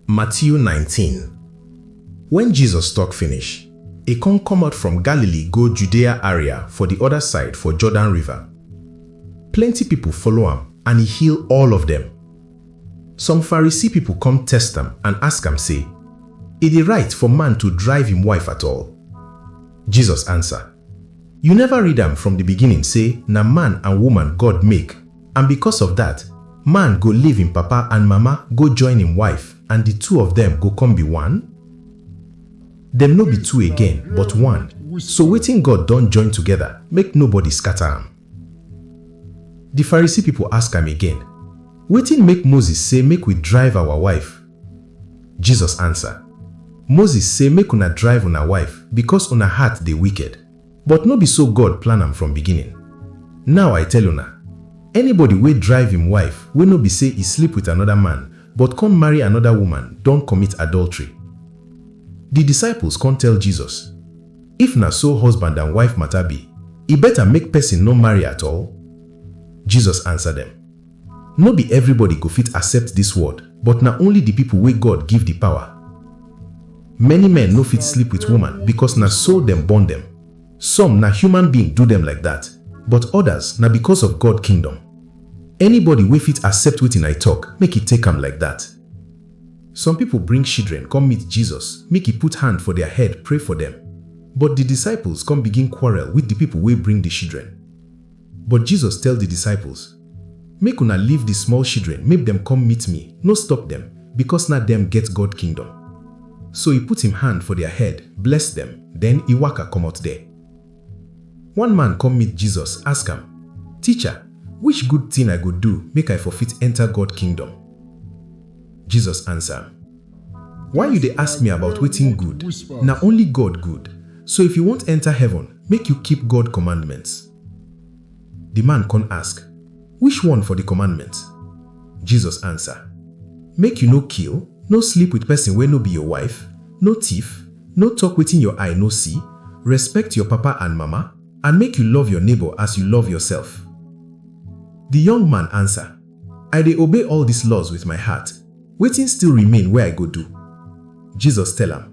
Matiu nineteen Wen Jesus tok finish, e kon komot from Galili go Judea aria for di oda side for Jordan River. Plenty pipol follow am and e heal all of dem. Some Pharisee pipol kom test am and ask am sey, E dey rite for man to drive im wife at all? Jesus ansa, Yu neva read am from di biginin sey na man and woman God make? And bikos of dat, man go leave im papa and mama go join im wife, and di two of dem go kon bi one? Dem no bi two again, but one. So wetin God don join togeda, make nobody skata am. Di Farisi pipol ask am again, Wetin make Moses sey make wi drive awa wife? Jesus ansa, Moses sey make una drive una wife bikos una heart dey wiked. But no be so God plan am from beginning. Now I tell una, anybody wey drive im wife wey no be sey e sleep with another man but con marry another woman don commit adultery. Di disciples con tell Jesus, If na so husband and wife matter be, e better make pesin no marry at all? Jesus answer dem. No be everybody go fit accept dis word, but na only di people wey God give di power. Many men no fit sleep with woman because na so dem born dem. Some na human being do dem like dat, but others na because of God kingdom. Anybody wey fit accept wetin I talk, make e take am like dat. Some people bring shidren come meet Jesus make e put hand for their head pray for dem. But di disciples come begin quarrel with di people wey bring di shidren. But Jesus tell di disciples, Make una leave di small shidren make dem kom meet mi, no stop dem, bikos na dem get God Kingdom. So e put im hand for dia head, bless dem, den e waka komot der. One man kom meet Jesus, ask am, Ticha, which good tin I go do make I for fit enter God Kingdom? Jesus ansa am. Why you dey ask me about wetin good? Na only God good. So if you want enter heaven, make you keep God commandments. Di man con ask, Which one for di commandments? Jesus answer, Make you no kill, no sleep with person wey no be your wife, no thief, no talk wetin your eye no see, respect your papa and mama, and make you love your neighbor as you love yourself. Di young man answer, I dey obey all dis laws with my heart, wetin still remain wey I go do? Jesus tell am,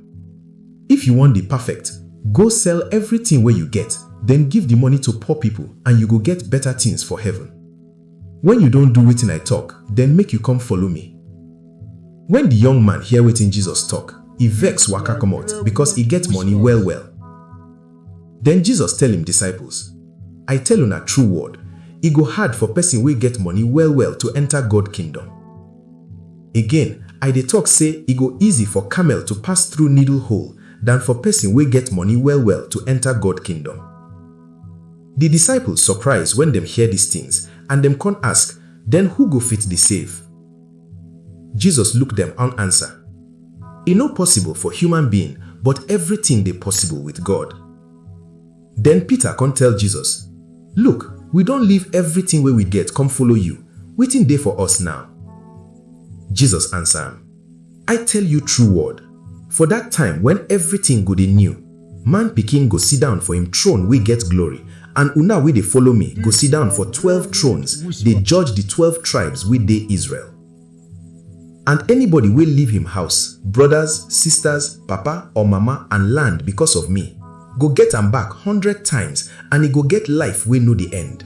If you wan dey perfect, go sell everything wey you get, den give di money to poor people and you go get better things for heaven. Wen you don do wetin I talk, den make you come follow me. Wen di young man hear wetin Jesus talk, e vex waka comot because e get money well-well. Den Jesus tell im disciples, I tell una true word, e go hard for pesin wey get moni well-well to enta God Kingdom. Again, I dey tok sey e go easy for camel to pass through needle hole dan for pesin wey get moni well-well to enta God Kingdom. Di disciples surprise wen dem hear dis tins and dem con ask, Den who go fit dey save? Jesus look dem on answer, E no possible for human being but everything dey possible with God. Den Peter con tell Jesus, Look, we don leave everything wey we get come follow you, wetin dey for us now? Jesus answer am. I tell you true word, for dat time wen evritin go dey new, Man Pikin go sidon for im throne wey get glory, and una wey dey follow mi go sidon for twelve thrones dey judge di twelve tribes wey dey Israel. And anybody wey leave him house, brodas, sistas, papa or mama and land becos of mi, go get am back hundred times and e go get life wey no dey end.